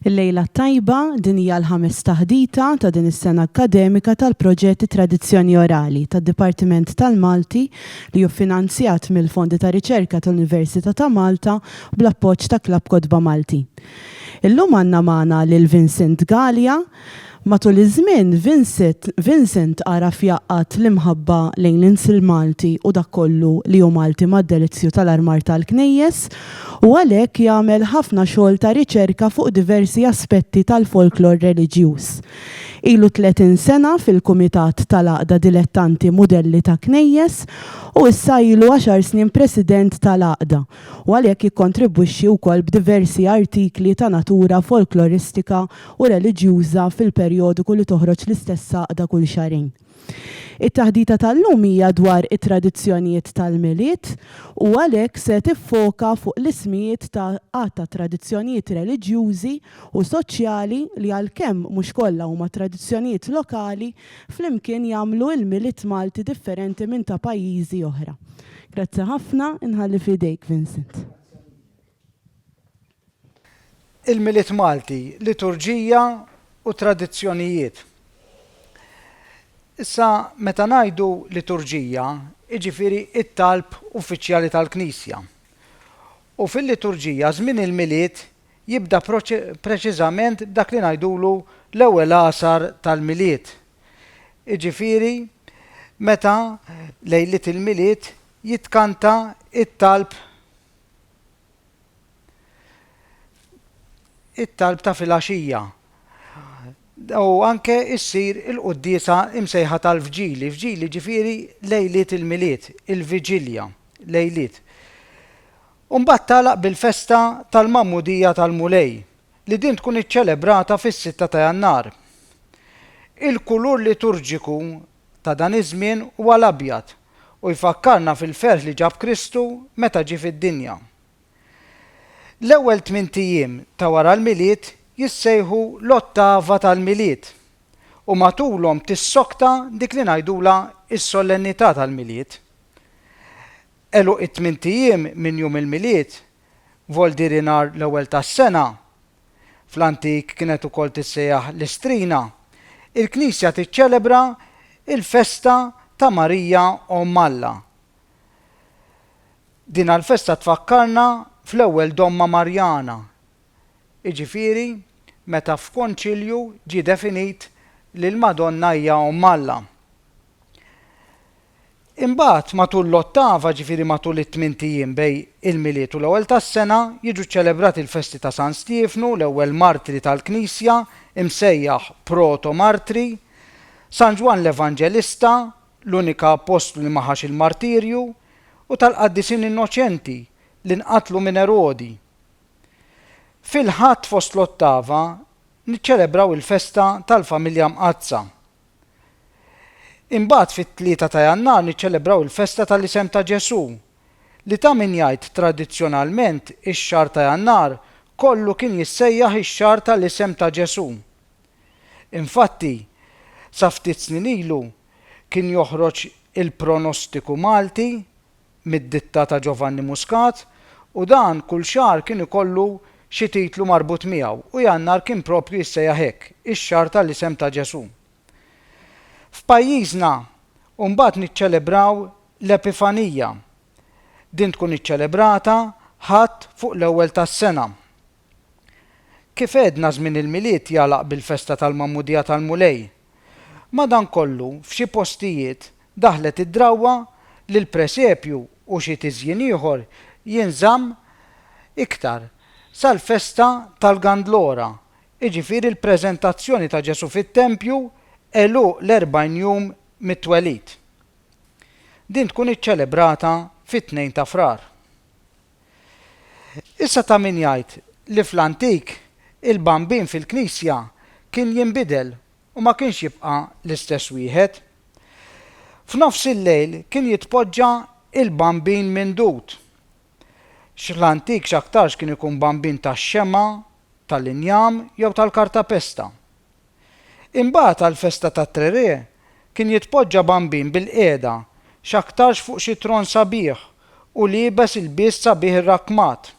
Il-Lejla t-Tajba, Din hija l-ħames taħdita ta' din is-sena akkademika tal-proġett Tradizzjoni Orali tad-Dipartiment tal-Malti li hu ffinanzjat mill-Fondi ta' Riċerka tal-Università ta' Malta u bl-appoġġ ta' Klabb Kotba Malti. Illum għandna magħna lil Vincent Galea Matul iż-żmien, Vincent għaraf jgħaqqad l-imħabba lejn l-ins il-Malti u dak kollu li hu Malti mad-delizzju tal-armar tal-knejjes u għalhekk jagħmel ħafna xogħol ta' riċerka fuq diversi aspetti tal-folklor reliġjuż. Ilu 30 sena fil-Kumitat tal-Għaqda Dilettanti Mudelli ta' Knejjes u issa ilu għaxar snin President tal-Għaqda u għalhekk jikkontribwixxi wkoll b'diversi artikli ta' natura folkloristika u reliġjuża fil-perjodiku li toħroġ l-istess għaqda kull xahrejn. It-taħdita tal-lum hija dwar it-tradizzjonijiet tal-Milied u għalhekk se tiffoka fuq l-ismijiet ta' għadd ta' tradizzjonijiet reliġjużi u soċjali li għalkemm mhux kollha huma tradizzjonijiet lokali flimkien jagħmlu l-Milied Malti differenti minn ta' pajjiżi oħra. Grazzi ħafna, inħalli f'idejk Vincent. Il-Milied Malti, Liturġija u Tradizzjonijiet Issa meta ngħidu liturġija, jiġifieri t-talb uffiċjali tal-Knisja. U fil-liturġija żmien il-Milied jibda preċiżament b'dak li ngħidulu l-ewwel għasar tal-Milied, jiġifieri meta lejliet il-Milied jitkanta t-talb, it-talb ta' filgħaxija u anke issir il-quddiesa imsejħa tal-vġili, vġili ġifieri lejliet il-Milied, il-viġilja, lejliet. U mbagħad tagħlaq bil-festa tal-Magħmudija tal-Mulej, li din tkun iċċelebrata fis-sitta ta' Jannar. Il-kulur liturġiku ta' dan iż-żmien huwa l-abjad u jfakkarna fil-ferħ li ġab Kristu meta ġie fid-dinja. L-ewwel tmint ijiem ta' wara l-Milied jissejħu l-Ottava tal-Milied u matulhom tissokta dik li ngħidulha s-Solennità tal-Milied. Għeluq it-tmint ijiem minn jum il-Milied Voldiri nhar l-ewwel tas-sena. Fl-antik kienet ukoll tissejjaħ Listrina. Il-Knisja tiċċelebra l-festa ta' Marija Omm Alla. Dina l-festa tfakkarna fl-ewwel domma Marjana, jiġifieri meta f'Konċilju ġie definit li l-Madonna hija Omm Alla. Imbagħad, matul l-ottava, ġifieri matul it-tmint ijiem bejn il-Milied u l-Ewwel tas-Sena, jiġu ċċelebrati l-festi ta' San Stiefnu, l-ewwel martri tal-Knisja, imsejjaħ proto-martri, San Ġwann l-Evanġelista, l-unika appostlu li ma ħax il-martirju, u tal-qaddisin innoċenti li nqatlu minn Erodi. Fil-Ħadd fost l-ottava, niċċelebraw il-festa tal-Familja Mqaddsa. Imbagħad fit-Tlieta ta' Jannar niċċelebraw il-festa tal-Isem ta' Ġesù, li ta' min jgħid tradizzjonalment ix-xahar ta' Jannar kollu kien jissejjaħ ix-xahar tal-Isem ta' Ġesù. Infatti, sa ftit snin ilu kien joħroġ il-pronostiku Malti, mid-ditta ta' Giovanni Muscat u dan kull xahar kien ikollu xi titlu marbut miegħu u Jannar kien proprju jissejjaħ hekk, ix-xahar tal-isem ta' Ġesù. F'pajjiżna mbagħad niċċelebraw l-Epifanija. Din tkun iċċelebrata Ħadd fuq l-ewwel tas-sena. Kif għedna żmien il-Milied jagħlaq bil-festa tal-Magħmudija tal-Mulej Madankollu, f'xi postijiet, daħlet id-drawwa li l-presepju u xi tiżjin ieħor jinżamm iktar sal-festa tal-Gandlora, jiġifieri l-preżentazzjoni ta' Ġesù fit-tempju għeluq l-40 jum mit-twelid. Din tkun iċċelebrata fit-Tnejn ta' Frar. Issa ta' min jgħid li fl-antik il-bambin fil-knisja kien jinbidel u ma kienx jibqa' l-istess wieħed. F'nofs il-lejl kien jitpoġġa il-bambin mindud. X'l-antik x'aktarx kien ikun bambin tax-xemgħa, tal-injam jew tal-kartapesta. Imbagħad għall-festa tat-Trerè kien jitpoġġa bambin bilqiegħda, x'aktarx fuq xi tron sabiħ u liebes ilbies sabiħ irrakkmat,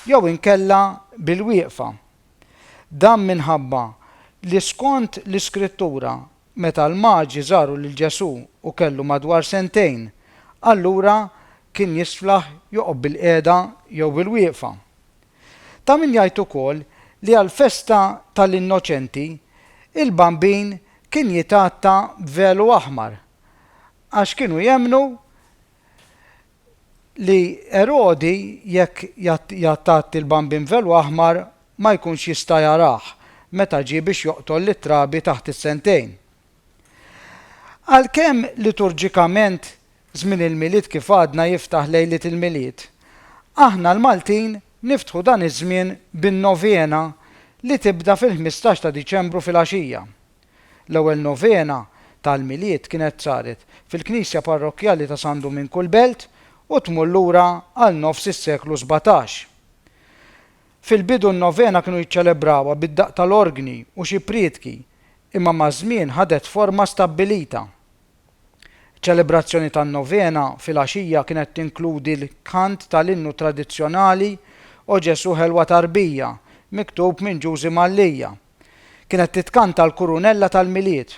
jew inkella bilwieqfa. Dan minħabba li skont l-Iskrittura meta l-Maġi żaru lil Ġesù u kellu madwar sentejn, allura kien jisflaħ joqgħod bilqiegħda jew bilwieqfa. Ta' min jgħid ukoll li għall-festa tal-Innoċenti, il-Bambin kien jitgħatta b'velu aħmar għax kienu jemmnu li Erodi jekk jgħattgħatti l-Bambin b'velu aħmar ma jkunx jista' jarah meta ġie biex joqtol lit-trabi taħt is-sentejn. Għalkemm liturġikament żmien il-Milied kif għadna jiftaħ lejliet il-Milied, aħna l-Maltin niftħu dan iż-żmien bin-Novena li tibda fil-ħmistax ta' Diċembru filgħaxija. L-ewwel Novena tal-Milied kienet saret fil-Knisja Parrokkjali ta' San Duminku l-Belt u tmur lura għal nofs is-seklu sbatax. Fil-bidu n-Novena kienu jiċċelebrawha bid-daqq tal-orgni u xi prietki, imma maż-żmien ħadet forma stabbilita. Iċ-ċelebrazzjoni tan-Novena filgħaxija kienet tinkludi l-kant tal-innu tradizzjonali O Ġesù Ħelwa Tarbija, miktub minn Ġużi Mallia. Kienet titkanta l-Kurunella tal-Milied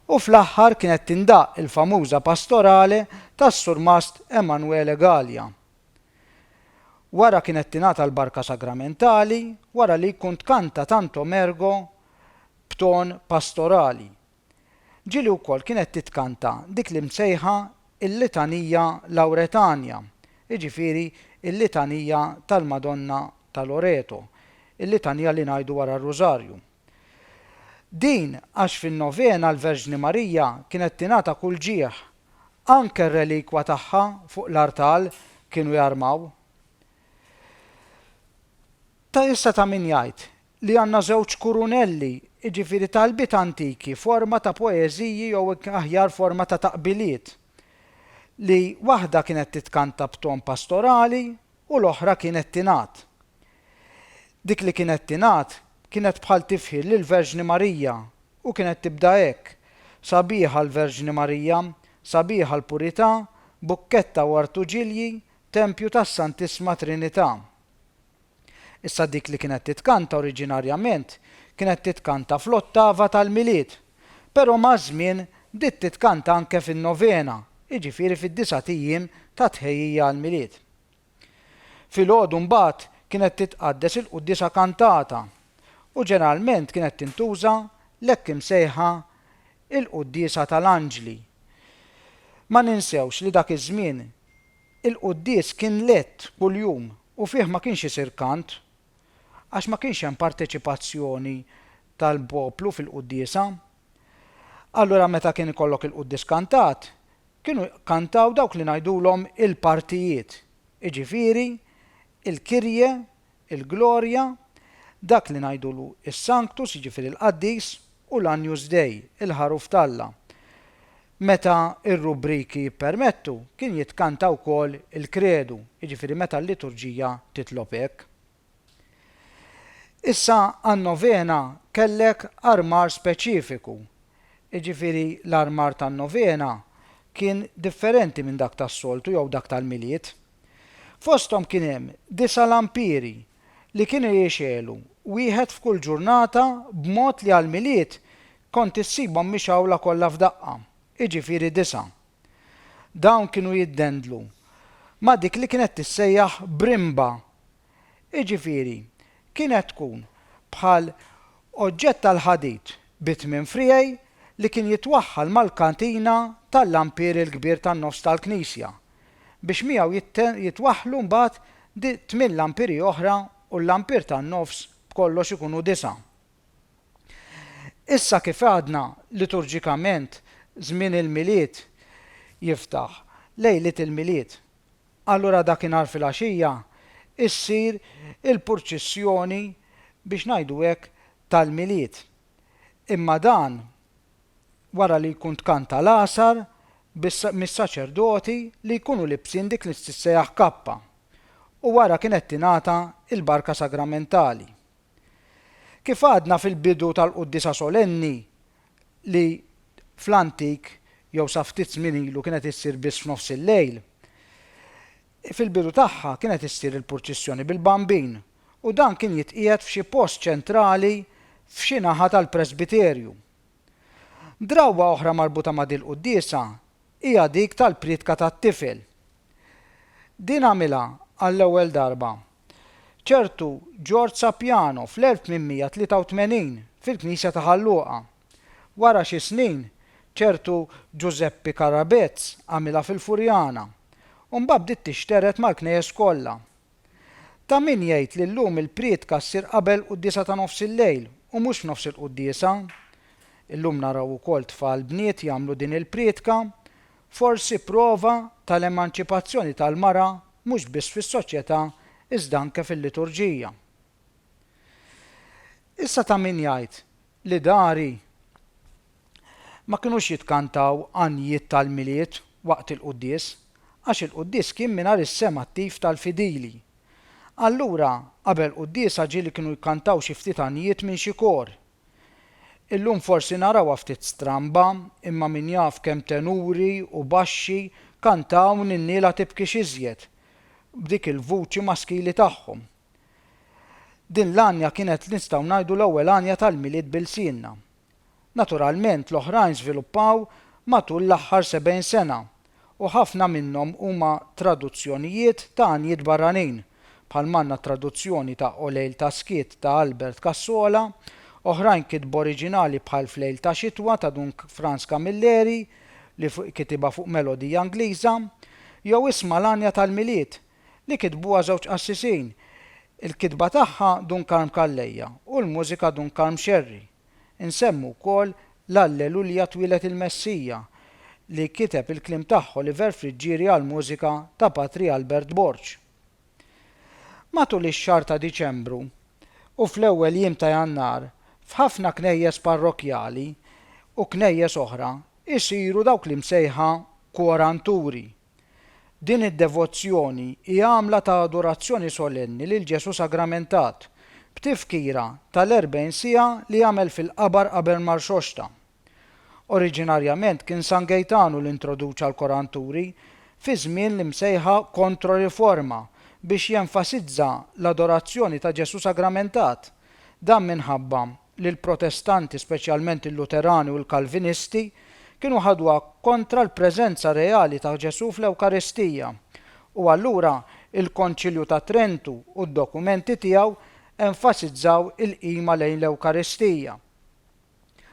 u fl-aħħar kienet tindaqq il-famuża Pastorale tas-Surmast Emanuele Galea. Wara kienet tingħata l-Barka Sagramentali wara li jkun tkanta Tantum Ergo b'ton pastorali. Ġieli wkoll kienet titkanta dik l-imsejħa l-Litanija Lauretania, jiġifieri l-Litanija tal-Madonna ta' Loreto, il-Litanija li ngħidu wara r-Rużarju. Din għax fin-Novena l-Verġni Marija kienet tingħata kull ġieħ, anke r-relikwa tagħha fuq l-artal kienu jarmaw. Ta' issa ta' min jgħid li għandna żewġ kurunelli, jiġifieri talbiet antiki, forma ta' poeżiji jew aħjar forma ta' taqbiliet, li waħda kienet titkanta b'ton pastorali u l-oħra kienet tingħad. Dik li kienet tingħad kienet bħal tifħir lill-Verġni Marija u kienet tibda hekk, Sabiħa l-Verġni Marija, sabiħa l-purità, bukketta u artuġilji, tempju tas-Santissma Trinità. Issa dik li kienet titkanta oriġinarjament kienet titkanta fl-Ottava tal-Milied, però maż-żmien bdiet titkanta anke fin-Novena, jiġifieri fid-disgħat ijiem ta' tħejjija għall-Milied. Filgħodu mbagħad kienet titqaddes il-quddiesa kantata u ġeneralment kienet tintuża l-hekk imsejħa il-quddiesa tal-anġli. Ma ninsewx li dak iż-żmien Il-quddies kien lett kuljum u fih ma kienx isir kant, għax ma kienx hemm parteċipazzjoni tal-poplu fil-quddiesa. Allura meta kien ikollok il-quddies kantat, kienu jkantaw dawk li ngħidulhom il-partijiet, jiġifieri, il-Kirje, il-Glorja, dak li ngħidulu s-Sanctus, jiġifieri l-Qaddis, u l-Agnus Dei, il-Ħaruf t'Alla. Meta r-rubriki jippermettu, kien jitkanta wkoll il-Kredu, jiġifieri meta l-liturġija titlob hekk. Issa għan-Novena kellek armar speċifiku, jiġifieri l-armar tan-Novena kien differenti minn dak tas-soltu jew dak tal-Milied. Fosthom kien hemm disa' lampieri li kienu jixegħlu, wieħed f'kull ġurnata b'mod li għall-Milied kont issibhom mixgħula kollha f'daqqa, jiġifieri disa'. Dawn kienu jiddendlu ma' dik li kienet tissejjaħ brimba jiġifieri kienet tkun bħal oġġett tal-ħadid bi tmien friegħi li kien jitwaħħal mal-katina tal-lampier il-kbir tan-nofs tal-knisja, biex miegħu jitwaħħlu mbagħad tmien lampiri oħra u l-lampier tan-nofs b'kollox ikunu disgħa. Issa kif għadna liturġikament żmien il-Milied jiftaħ, lejliet il-Milied, Allura dakinhar filgħaxija ssir il-purċissjoni biex ngħidu hekk tal-Milied. Imma dan wara li jkun tkanta l-Għasar mis-saċerdoti li jkunu libsin dik li tissejjaħ kappa u wara kienet tingħata l-barka sagramentali. Kif għadna fil-bidu tal-Quddiesa Solenni li fl-antik jew sa ftit żmien ilu kienet issir biss f'nofs il-lejl, fil-bidu tagħha kienet issir il-purċissjoni bil-Bambin u dan kien jitqiegħed f'xi post ċentrali f'xi naħa tal-presbiterju. Drawwa oħra marbuta ma' dil-quddiesa hija dik tal-prietka tat-tifel. Din għamilha għall-ewwel darba ċertu George Sapiano fl-1883 fil-knisja ta' Ħal Luqa. Wara xi snin, ċertu Ġużeppi Karabezz għamilha fil-Furjana, u mbagħad bdiet tixtered mal-knejjes kollha. Ta' min jgħid li llum il-prietka ssir qabel quddiesa ta' nofs il-lejl u mhux f'nofs il-quddiesa. Illum naraw ukoll tfal bniet jagħmlu din il-prietka, Forsi prova tal-emanċipazzjoni tal-mara mhux biss fis-soċjetà iżda anke fil-liturġija. Issa ta' min jgħid li dari ma kinux jitkantaw għanjiet tal-Milied waqt il-quddies għax il-quddies kien mingħajr is-sehem attiv tal-fidili. Allura qabel quddiesa ġieli kienu jkantaw xi ftit għanjiet minn xi kor. Illum forsi narawha ftit stramba, imma min jaf kemm tenuri u baxxi kantaw Ninniela tibkix iżjed b'dik il-vuċi maskili tagħhom. Din l-għanja kienet nistgħu ngħidu l-ewwel għanja tal-Milied b'ilsienna. Naturalment l-oħrajn żviluppaw matul l-aħħar sebgħin sena u ħafna minnhom huma traduzzjonijiet ta' għanjiet barranin, bħal m'għandna t-traduzzjoni ta' O lejl ta' skiet ta' Albert Cassola, oħrajn kitba oriġinali bħal F'lejl ta' xitwa ta' Dun Frans Camilleri li kitibha fuq melodija Ingliża, jew Isma' l-għanja tal-Milied li kitbuha żewġ qassisin, il-kitba tagħha Dun Karm Calleja u l-mużika Dun Karm Scerri. Insemmu wkoll l-Allelulja Twieled il-Messija li kiteb il-kliem tagħha Oliver Friggieri għall-mużika ta' Patri Albert Borg. Matul ix-xahar ta' Diċembru u fl-ewwel jiem ta' Jannar f'ħafna knejjes parrokkjali u knejjes oħra jsiru dawk l-imsejħa kworanturi. Din id-devozzjoni hi għamla ta' adorazzjoni solenni lil Ġesù sagramentat, b'tifkira tal-erbgħin siegħa li għamel fil-qabar qabel ma rxoxta. Oriġinarjament kien San Gejtanu li introduċa l-koranturi fi żmien l-imsejħa Kontroriforma biex jenfasizza l-adorazzjoni ta' Ġesù sagramentat, dan minħabba li l-Protestanti, speċjalment il-Luterani u l-Kalvinisti, kienu ħadwha kontra l-preżenza reali ta' Ġesù fl-Ewkaristija, u allura il-Konċilju ta' Trentu u d-dokumenti tiegħu enfasizzaw il-qima lejn l-Ewkaristija.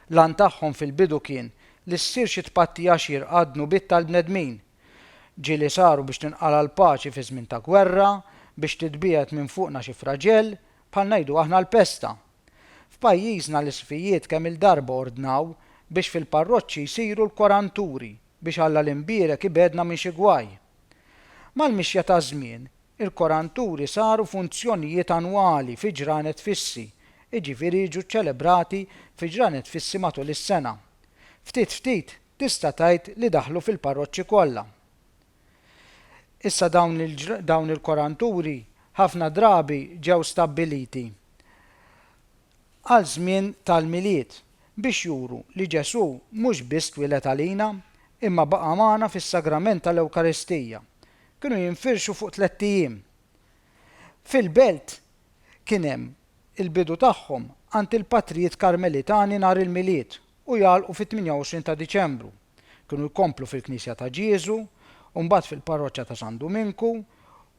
L-għan tagħhom fil-bidu kien li ssir xi tpattija xierqa għad-dnubiet tal-bnedmin. Ġieli saru biex tinqala' l-paċi fi żmien ta' gwerra, biex titbiegħed minn fuqna xi fraġell, bħal ngħidu aħna l-pesta. F'pajjiżna l-isqfijiet kemm-il darba ordnaw biex fil-parroċċi jsiru l-koranturi biex Alla l-Imbierek ibegħedna minn xi gwaj. Mal-mixja taż-żmien, il-koranturi saru funzjonijiet annwali fi ġranet fissi, jiġifieri jiġu ċċelebrati fi ġranet fissi matul is-sena. Ftit ftit tista' tgħid li daħlu fil-parroċċi kollha. Issa dawn il-koranturi ħafna drabi ġew stabbiliti għal żmien tal-Milied biex juru li Ġesù mhux biss twieled għalina, imma baqa' magħna fis-Sagrament tal-Ewkaristija. Kienu jinfirxu fuq tlett ijiem. Fil-belt kien hemm il-bidu tagħhom għand il-patrijiet Karmelitani nhar il-Milied u jagħlqu fit-28 ta' Diċembru. Kienu jkomplu fil-Knisja ta' Ġieżu, u mbagħad fil-Parroċċa ta' San Duminku,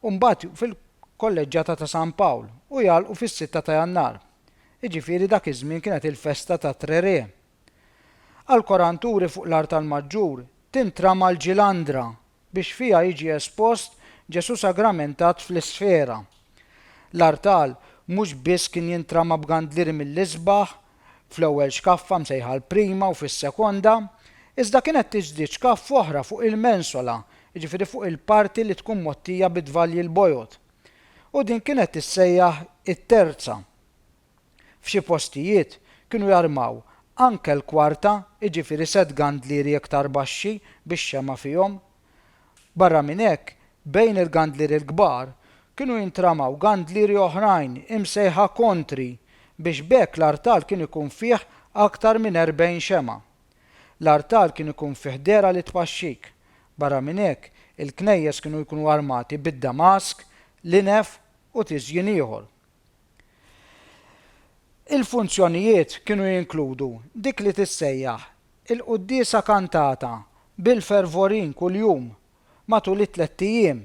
u mbagħad fil-Kolleġġjata ta' San Pawl, u jagħlqu fis-Sitta ta' Jannar. Jiġifieri dak iż-żmien kienet il-festa tat-Trerè. Għall-koranturi fuq l-artal maġġur tintrama l-ġilandra biex fiha jiġi espost Ġesù sagramentat fl-isfera. L-artal mhux biss kien jintrama b'gandlieri mill-isbaħ, fl-ewwel xkaffa msejħa l-prima u fis-sekonda, iżda kienet tiġdied xkaffa oħra fuq il-mensola, jiġifieri fuq il-parti li tkun mgħottija bit-tvalji l-bojod, u din kienet tissejjaħ it-terza. F'xi postijiet kienu jarmaw anke l-kwarta jiġifieri sett gandlieri iktar baxxi bix-xemgħa fihom. Barra minn hekk, bejn il-gandlieri l-kbar kienu jintramaw gandlieri oħrajn imsejħa kontri biex b'hekk l-artal kien ikun fih aktar minn erbgħin xemgħa. L-artal kien ikun fih dehra li tpaxxik. Barra minn hekk, il-knejjes kienu jkunu armati bid-damask, l-inef u tiżjin ieħor. Il-funzjonijiet kienu jinkludu dik li tissejjaħ il-quddiesa kantata bil-fervorin kuljum matul it-tlett ijiem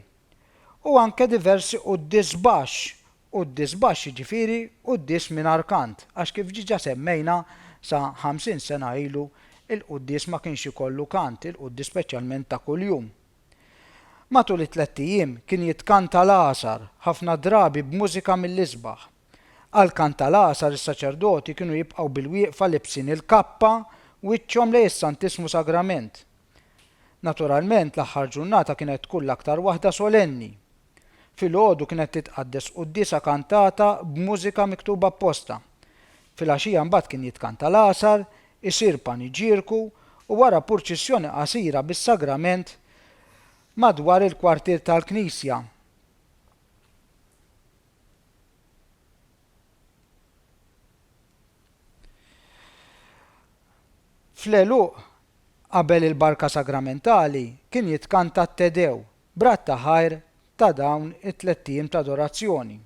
u anke diversi quddies baxx, quddies baxx jiġifieri quddies mingħajr kant għax kif diġa semmejna sa ħamsin sena ilu il-quddies ma kienx ikollu kant, il-quddies speċjalment ta' kuljum. Matul it-tlett ijiem kien jitkanta l-Għasar, ħafna drabi b'mużika mill-isbaħ. Għal kant tal-Għasar is-saċerdoti kienu jibqgħu bil-wieqfa libsin il-kappa wiċċhom lejn is-Santissimu Sagrament. Naturalment l-aħħar ġurnata kienet tkun l-aktar waħda solenni. Filgħodu kienet titqaddes quddiesa kantata b'mużika miktuba apposta. Filgħaxija mbagħad kien jitkanta l-Għasar, isir paniġierku u wara purċissjoni qasira bis-Sagrament madwar il-kwartier tal-knisja. Fl-għeluq, qabel il-Barka Sagramentali, kien jitkanta t-Te Dew, b'radd ta' ħajr ta' dawn it-tlett ijiem ta' adorazzjoni.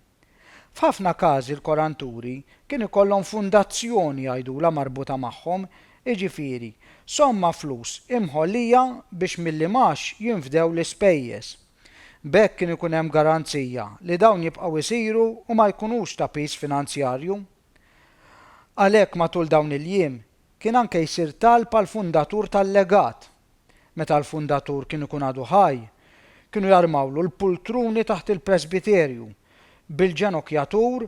F'ħafna każi l-koranturi kien ikollhom fundazzjoni jgħidulha marbuta magħhom, jiġifieri, somma flus imħollija biex mill-imgħax jinfdew l-ispejjeż. B'hekk kien ikun hemm garanzija li dawn jibqgħu jsiru u ma jkunux ta' piż finanzjarju. Għalhekk matul dawn il-jiem kien anke jsir talb għall-fundatur tal-legat. meta l-fundatur kien ikun għadu ħaj, kienu jarmawlu l-pultruni taħt il-presbiterju bil-ġenokjatur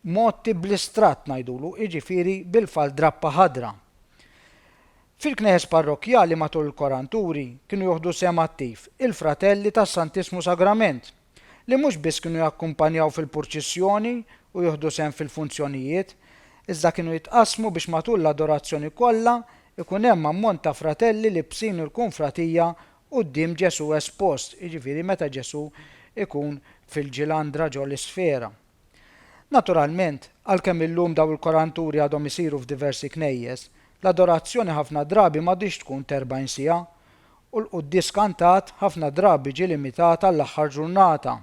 mgħotti bl-istrat ngħidulu, jiġifieri bil-faldrappa ħadra. Fil-knejjes parrokkjali matul il-koranturi kienu joħdu sehem attiv il-Fratelli tas-Santissmu Sagrament, li mhux biss kienu jakkumpanjaw fil-purċissjoni u jieħdu sehem fil-funzjonijiet, iżda kienu jitqassmu biex matul l-adorazzjoni kollha jkun hemm ammont ta' fratelli libbsin il-kunfratija quddiem Ġesù espost, jiġifieri meta Ġesù jkun fil-ġilandra ġol-isfera. Naturalment, għalkemm illum dawn il-koranturi għadhom isiru f'diversi knejjes, l-adorazzjoni ħafna drabi m'għadhiex tkun t'erbgħin siegħa, u l-quddies kantat ħafna drabi ġie limitat għall-aħħar ġurnata.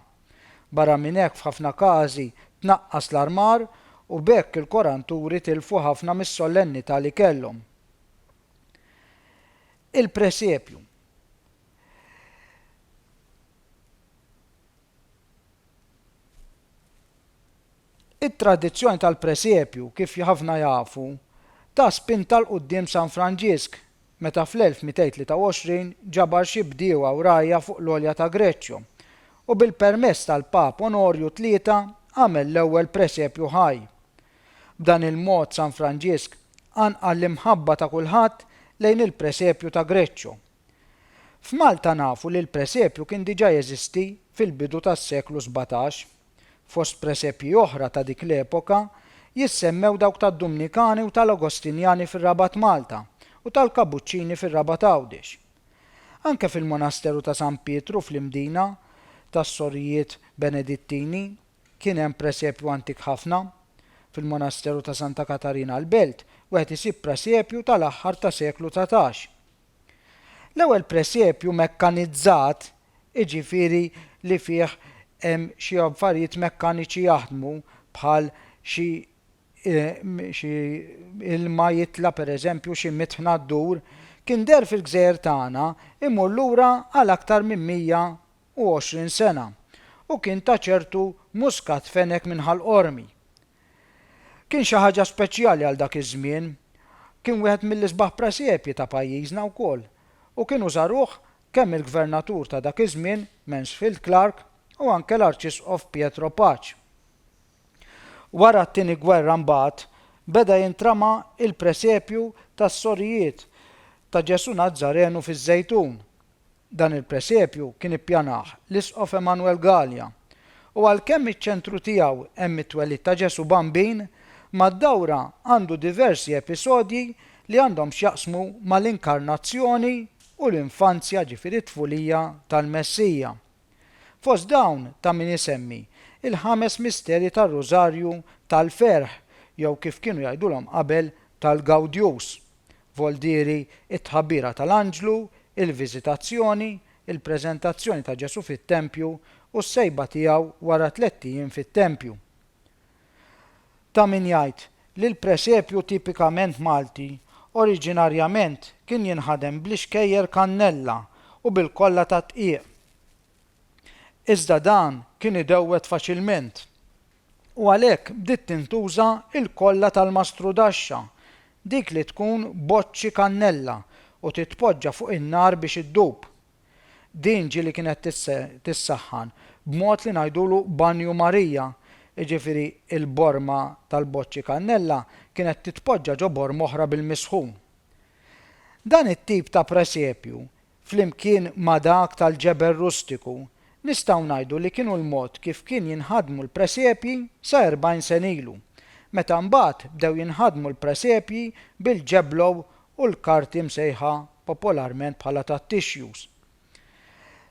Barra minn hekk f'ħafna każi tnaqqas l-armar u b'hekk il-koranturi tilfu ħafna mis-solennità li kellhom. Il-presepju. It-tradizzjoni tal-presepju, kif ħafna jafu, ta spinta 'l quddiem San Franġisk, meta fl-1223 ġabar xi bdiewa u rgħajja fuq l-għolja ta' Greccio, u bil-permess tal-Pap Onorju Tlieta għamel l-ewwel presepju ħaj. B'dan il-mod San Franġisk qanqal l-imħabba ta' kulħadd lejn il-presepju ta' Greccio. F'Malta nafu li l-presepju kien diġà jeżisti fil-bidu tas-seklu sbatax. Fost presepji oħra ta' dik l-epoka jissemmew dawk tad-Dumnikani u tal-Agostinjani fir-Rabat Malta u tal-Kabuċċini fir-Rabat Għawdex. Anke fil-Monasteru ta' San Pietru fl-Imdina tas-Sorijiet Benedittini kien hemm presepju antik ħafna. Fil-Monasteru ta' Santa Katarina l-Belt wieħed isib presepju tal-aħħar ta' seklu dsatax. L-ewwel presepju mekkanizzat, jiġifieri li fih hemm xi affarijiet mekkaniċi jaħdmu bħal xi xi ilma jitla' pereżempju xi mitħna ddur, kien deher fil-gżejjer tagħna, imur lura għal aktar minn 100 u għoxrin sena, u kien ta' ċertu muscat fenech minn Ħal Qormi. Kien xi ħaġa speċjali għal dak iż-żmien. Kien wieħed mill-isbaħ presepji ta' pajjiżna wkoll, u kienu żaruh kemm il-Gvernatur ta' dak iż-żmien, Mansfield Clark, u anke l-Arċisqof Pietro Pace. Wara t-Tieni Gwerra mbagħad beda jintrama il-presepju tas-Sorijiet ta' Ġesù Nazzarenu fiż-Żejtun. Dan il-presepju kien ippjanah l-Isqof Emanuel Galea u għalkemm iċ-ċentru tiegħu hemm it-twelid ta' Ġesù Bambin, mad-dawra għandu diversi episodji li għandhom x'jaqsmu mal-inkarnazzjoni u l-infanzja, ġifieri t-tfulija, tal-Messija. Fost dawn ta' min isemmi l-ħames misterji tar-Rużarju tal-ferħ jew kif kienu jgħidulhom qabel tal-Gawdjus, voldieri t-Tħabbira tal-Anġlu, il-Viżitazzjoni, il-Preżentazzjoni ta' Ġesù fit-Tempju u s-Sejba tiegħu wara tlett ijiem fit-Tempju. Ta' min jgħid li l-presepju tipikament Malti oriġinarjament kien jinħadem bl-ixkejjer kannella u bil-kolla tad-dqiq. Iżda dan kien idewwed faċilment u għalhekk bdiet tintuża l-kolla tal-mastrudaxxa, dik li tkun boċċi kannella u titpoġġa fuq in-nar biex iddub. Din ġieli kienet tissaħħan b'mod li ngħidulu Banju Marija, jiġifieri l-borma tal-boċċi kannella kienet titpoġġa ġo borma oħra bil-misħun. Dan it-tip ta' presepju, flimkien ma' dak tal-ġebel rustiku, nistgħu ngħidu li kienu l-mod kif kien jinħadmu l-presepji sa erbgħin sen ilu, meta mbagħad bdew jinħadmu l-presepji bil-ġeblow u l-karti msejħa popolarment bħala tat-tixjus.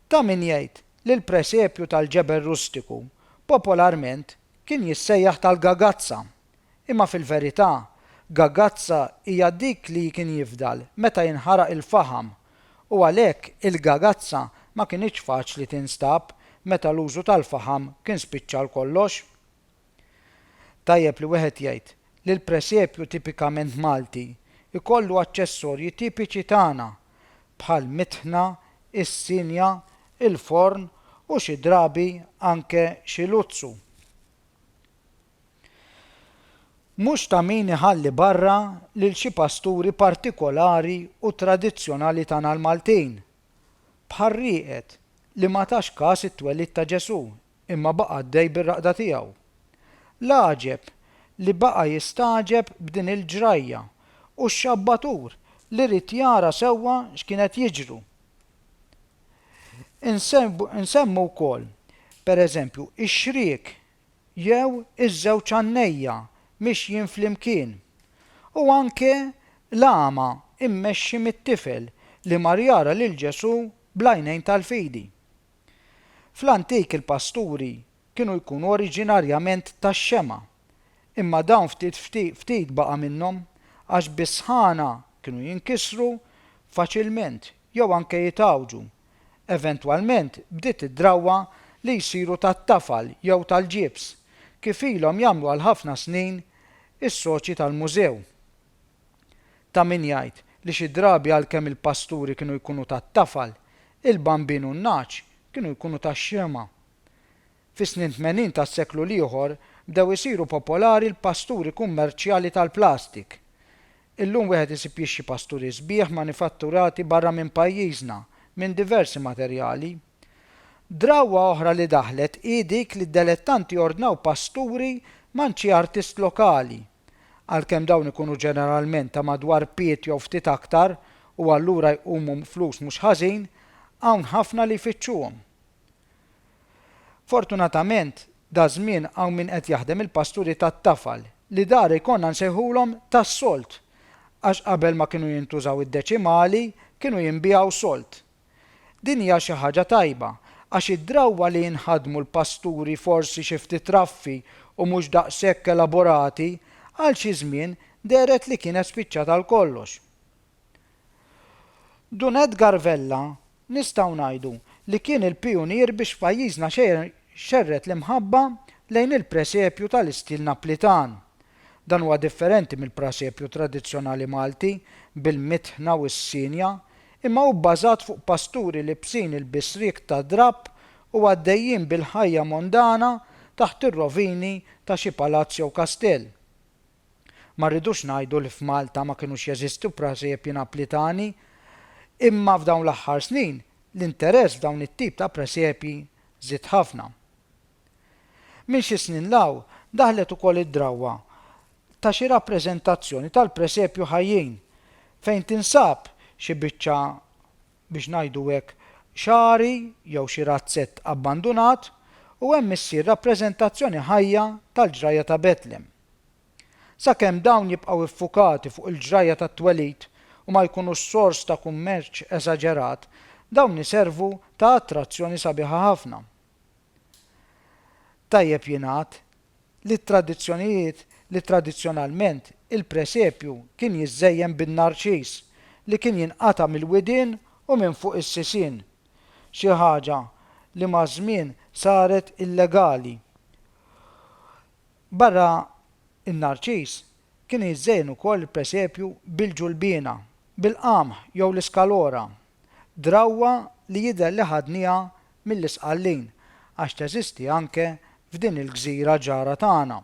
Ta' min jgħid li l-presepju tal-ġebel rustiku popolarment kien jissejjaħ tal-gagazza, imma fil-verità gagazza hija dik li kien jifdal meta jinħaraq il-faħam u għalhekk il-gagazza ma kinitx faċli tinstab meta l-użu tal-faħam kien spiċċa għal kollox. Tajjeb li wieħed jgħid li l-presepju tipikament Malti jkollu aċċessorji tipiċi tagħna bħal mitħna, is-sinja, il-forn u xi drabi anke xi luzzu. Mhux ta' min iħalli barra lil xi pasturi partikolari u tradizzjonali tagħna l-Maltin, bħar-rieqed li ma tax kas it-twelid ta' Ġesù, imma baqa' għaddej bir-raqda tiegħu. L-għaġeb li baqa' jistagħġeb b'din il-ġrajja u x-xabbatur li ried jara sewwa x'kien qed jiġru. Insemmu wkoll, pereżempju, ix-xriek jew iż-żewġ għannejja mixjin flimkien, u anke l-għama mmexxi mit-tifel li mar jara lil Ġesù bl-għajnejn tal-fidi. Fl-antik il-pasturi kienu jkunu oriġinarjament tax-Xema, imma dawn ftit ftit baqa' minnhom għax bis-sħana kienu jinkisru faċilment jew anke jitgħawġu. Eventwalment bdiet id-drawwa li jsiru tat-tafal jew tal-ġibs, kif ilhom jagħmlu għal ħafna snin is-soċji tal-mużew. Ta' min jgħid li xi drabi għalkemm il-pasturi kienu jkunu tat-tafal, il-bambin u n-nagħaġ kienu jkunu tax-xemgħa. Fis-snin tmenin tas-seklu l-ieħor bdew isiru popolari l-pasturi kummerċjali tal-plastik. Illum wieħed isib jixxi pasturi sbieħ manifatturati barra minn pajjiżna minn diversi materjali. Drawwa oħra li daħlet hi dik li d-delettanti ordnaw pasturi man xi artist lokali. għalkemm dawn ikunu ġeneralment ta' madwar pied jew ftit aktar u allura jqumu flus mhux ħażin, hawn ħafna li jfittxuhom. Fortunatament, daż-żmien hawn min qed jaħdem il-pasturi tat-tafal, li dar ikollna nsejħulhom tas-solt, għax qabel ma kienu jintużaw id-deċimali, kienu jinbiegħu solt. Din hija xi ħaġa tajba għax id-drawwa li jinħadmu l-pasturi forsi xi ftit raffi u mhux daqshekk elaborati għal xi żmien dehret li kienet spiċċat għal kollox. Dun Edgar Vella nistgħu ngħidu li kien il-pijunier biex f'pajjiżna xerred l-imħabba lejn il-presepju tal-istil Naplitan Dan huwa differenti mill-prażepju tradizzjonali Malti bil-mitħna u s-sienja, imma hu bbażat fuq pasturi libsin il-bisriek tad-drapp u għaddejjin bil-ħajja mondana taħt ir-rovini ta' xi palazz jew kastell. Ma rridux ngħidu li f'Malta ma kinux jeżistu prażepji Naplitani, imma f'dawn l-aħħar snin l-interess f'dawn it-tip ta' presepji żied ħafna. Minn xi snin 'l hawn daħlet ukoll id-drawwa ta' xi rappreżentazzjoni tal-presepju ħajjin, fejn tinsab xi biċċa, biex ngħidu hekk, xagħri jew xi razzett abbandunat u hemm issir rappreżentazzjoni ħajja tal-ġrajja ta' Betlem. Sakemm dawn jibqgħu iffukati fuq il-ġrajja tat-twelid u ma jkunux sors ta' kummerċ esaġerat, dawn iservu ta' attrazzjoni sabiħa ħafna. Tajjeb jingħad li t-tradizzjonijiet li tradizzjonalment il-presepju kien jiżżejjen bin-narċis li kien jinqata' mill-widien u minn fuq is-sisien, xi ħaġa li maż-żmien saret illegali. Barra n-narċis, kien jiżżejjen ukoll il-presepju bil-ġulbiena, bil-qamħ jew l-iskalora. drawwa li jidher li ħadniha mill-Isqallin għax teżisti anke f'din il-gżira ġara tagħna.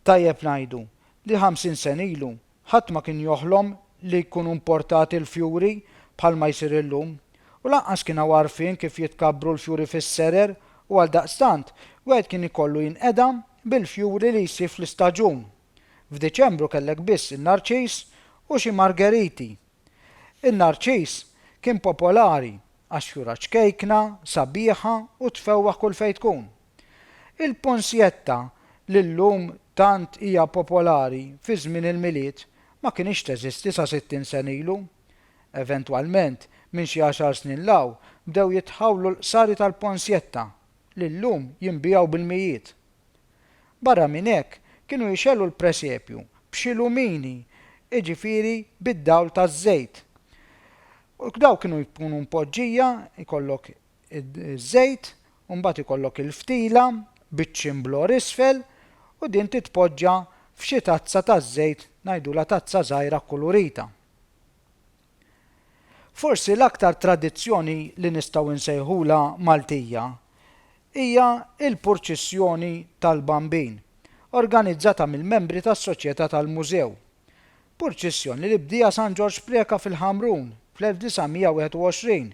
Tajjeb ngħidu li ħamsin sen ilu ħadd ma kien joħlom li jkunu mportati l-fjuri bħalma jsir illum u lanqas kien hawn għarfien kif jitkabbru l-fjuri fis-serer u għaldaqstant wieħed kien ikollu jinqeda bil-fjuri li jsib fl-istaġun. F'Diċembru kellek biss in-narċis u xi margeriti. In-narċiż kien popolari għax fjura ċkejkna, sabiħa u tfewwaħ kull fejn tkun. Il-punsjetta li llum tant hija popolari fi żmien il-Milied ma kinitx teżisti sa sittin sena ilu. Eventwalment, minn xi għaxar snin 'l hawn bdew jitħawlu l-qsari tal-punsjetta li llum jinbiegħu bil-mijiet. Barra minn hekk, kienu jxegħlu l-presepju b'xi lumini, jiġifieri bid-dawl taż-żejt. U dawn kienu jkunu mpoġġija, jkollok iż-żejt, u mbagħad ikollok il-ftila biċ-ċimblor isfel, u din titpoġġa f'xi tazza taż-żejt, ngħidulha tazza żgħira kkulurita. Forsi l-aktar tradizzjoni li nistgħu nsejħulha Maltija hija l-Purċissjoni tal-Bambin, organizzata mill-membri tas-Soċjetà tal-Mużew. Purċissjoni li bdieha San Ġorġ Preca fil-Ħamrun fl-1921,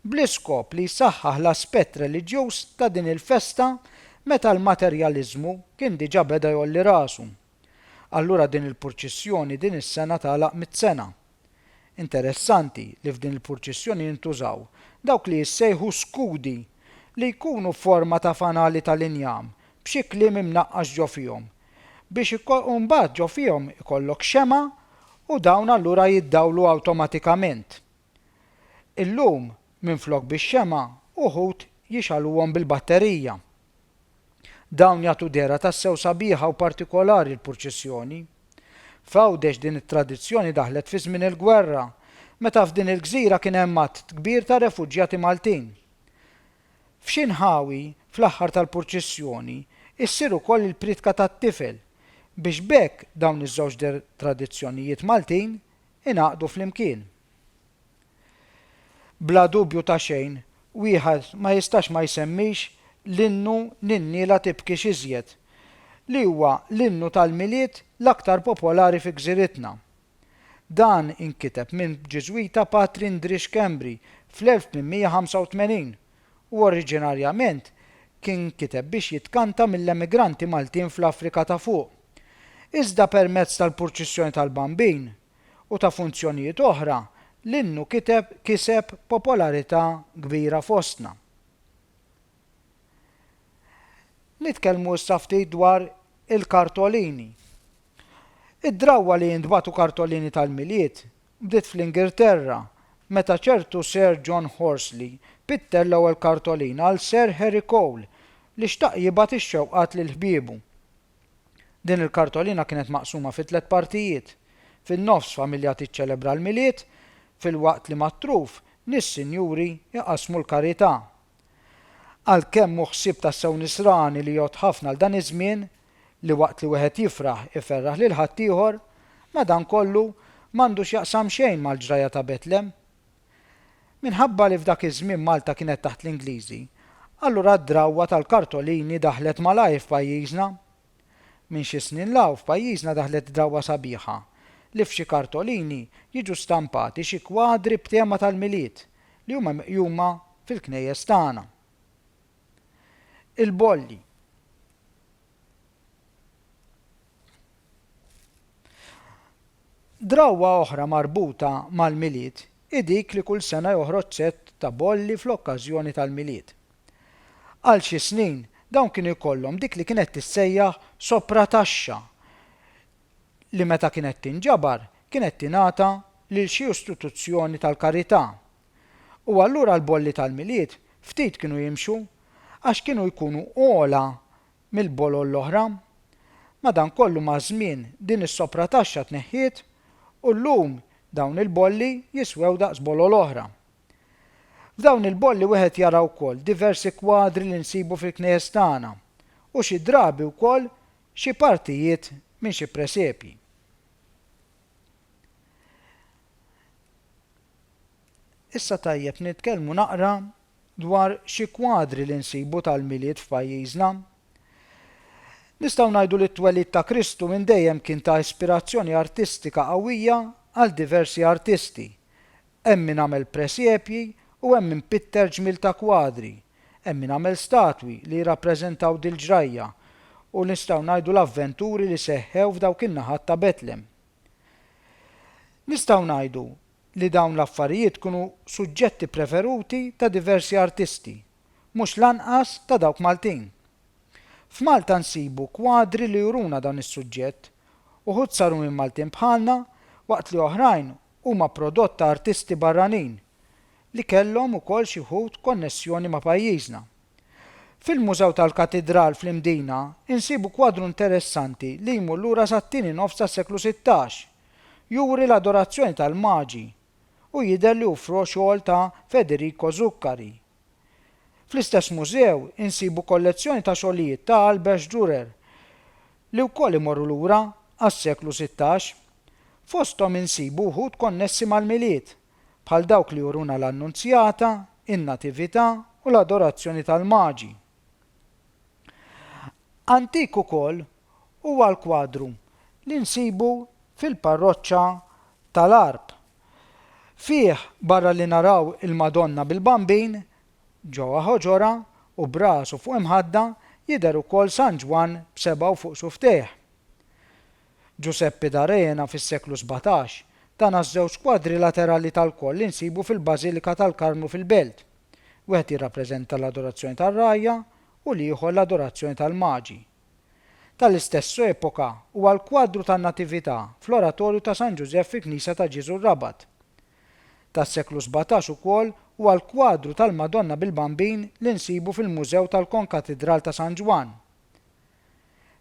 bl-iskop li jsaħħaħ l-aspett reliġjuż ta' din il-festa meta l-materjaliżmu kien diġà beda jgħolli rasu. Allura din il-purċissjoni din is-sena tagħlaq mitt sena. Interessanti li f'din il-purċissjoni jintużaw dawk li jissejħu skudi li jkunu forma ta' fanali tal-injam b'xi kliem imnaqqax ġo fihom biex u mbagħad ġo fihom ikollok xemgħa u dawn allura jiddawlu awtomatikament. Illum, minflok bix-xemgħa, uħud jixgħaluhom bil-batterija. Dawn jagħtu dehra tassew sabiħa u partikolari l-purċissjoni. F'Għawdex din it-tradizzjoni daħlet fi żmien il-gwerra, meta f'din il-gżira kien hemm għadd kbir ta' refuġjati Maltin. F'xi nħawi, fl-aħħar tal-purċissjoni, issir ukoll il-priedka tat-tifel, biex b'hekk dawn iż-żewġ tradizzjonijiet Maltin ingħaqdu flimkien. Bla dubju ta' xejn, wieħed ma jistax ma jsemmix l-innu Ninniela tibkix iżjed, li huwa l-innu tal-Milied l-aktar popolari fi gżiritna. Dan inkiteb minn Ġiżwita Patri Ndri Schembri fl-1885. u oriġinarjament kien inkiteb biex jitkanta mill-emigranti Maltin fl-Afrika ta' Fuq. Iżda permezz tal-Purċissjoni tal-Bambin u ta' funzjonijiet oħra, l-innu kiteb kiseb popolarità kbira fostna. Nitkellmu issa ftit dwar il-kartolini. Id-drawwa li jintbagħtu kartolini tal-Milied Bdiet fl-Ingilterra, meta ċertu Sir John Horsley pitter l-ewwel kartolina għal Sir Harry Cole, li xtaq jibgħat ix-xewqat lil ħbiebu. Din il-kartolina kienet maqsuma fi tliet partijiet, fin-nofs familja tiċċelebra l-Milied, filwaqt li mat-truf nies sinjuri jqassmu l-karità, Għalkemm hu ħsieb tassew nisrani li jgħodd ħafna għal dan iż-żmien, li waqt li wieħed jifraħ iferraħ lil ħaddieħor, madankollu m'għandu x'jaqsam xejn mal-ġrajja ta' Betlem. Minħabba li f'dak iż-żmien Malta kienet taħt l-Ingliżi, allura d-drawwa tal-kartolini daħlet malajr f'pajjiżna. Minn xi snin 'l hawn f'pajjiżna daħlet drawwa sabiħa li f'xi kartolini jiġu stampati xi kwadri b'tema tal-Milied li huma meqjuma fil-knejjes tagħna. Il-bolli. Drawwa oħra marbuta mal-Milied hi dik li kull sena joħroġ sett ta' bolli fl-okkażjoni tal-Milied. Għal xi snin, dawn kienu jkollhom dik li kienet tissejjaħ soprataxxa li meta kienet tinġabar kienet tingħata lil xi istituzzjoni tal-karità. U allura l-bolli tal-Milied ftit kienu jimxu għax kienu jkunu ogħla mill-bolol l-oħra. Madankollu maż-żmien din is-soprataxxa tneħħiet u llum dawn il-bolli jiswew daqs bolol oħra. F'dawn il-bolli wieħed jara wkoll diversi kwadri li nsibu fil-knejjes tagħna u xi drabi wkoll xi partijiet minn xi presepji. Issa tajjeb nitkellmu naqra dwar xi kwadri li nsibu tal-Milied f'pajjiżna. Nistgħu ngħidu li t-twelid ta' Kristu minn dejjem kien ta' ispirazzjoni artistika qawwija għal diversi artisti, Hemm min għamel presepji u hemm min pitter ġmiel ta' kwadri. Hemm min għamel statwi li jirrappreżentaw dil-ġrajja u nistgħu ngħidu l-avventuri li seħħew f'dawk in-naħat ta' Betlem. Nistgħu ngħidu li dawn l-affarijiet kunu suġġetti preferuti ta' diversi artisti, mhux l-anqas ta' dawk Maltin. F'Malta nsibu kwadri li juruna dan is-suġġett, uħud saru minn Maltin bħalna waqt li oħrajn huma prodott ta' artisti barranin li kellhom ukoll xi wħud konnessjoni ma' pajjiżna. Fil-Mużew tal-Katidral fl-Imdina insibu kwadru interessanti li jmur lura sat-tieni nofs tas-seklu sittax. Juri l-adorazzjoni tal-Maġi u jidher li hu fro xogħol ta' Federico Zuccari. Fl-istess mużew insibu kollezzjoni ta' xogħlijiet ta' Albrecht Dürer li wkoll imorru lura għas-seklu sittax. Fosthom insibu wħud konnessi mal-Milied, bħal dawk li juruna l-Annunzjata, in-Natività u l-Adorazzjoni tal-Maġi. Antik ukoll huwa l-kwadru li nsibu fil-parroċċa tal-Għarb. Fih, barra li naraw il-Madonna bil-Bambin, ġewwa ħoġorha, u b'rasu fuq imħadda, jidher ukoll San Ġwann b'sebgħu fuq suftejh. Ġużeppi d'Arena fis-seklu sbatax, tana ż-żewġ kwadri laterali tal-koll li nsibu fil-Bażilika tal-Karmnu fil-Belt. Wieħed jirrappreżenta l-Adorazzjoni tar-Ragħajja u l-ieħor l-Adorazzjoni tal-Maġi. tal-istess epoka huwa l-kwadru tan-Natività fl-oratorju ta' San Ġużeff fil-knisja ta' Ġieżu r-Rabat. Tas-seklu sbatax ukoll huwa l-kwadru tal-Madonna bil-Bambin li nsibu fil-Mużew tal-Konkatidral ta' San Ġwann.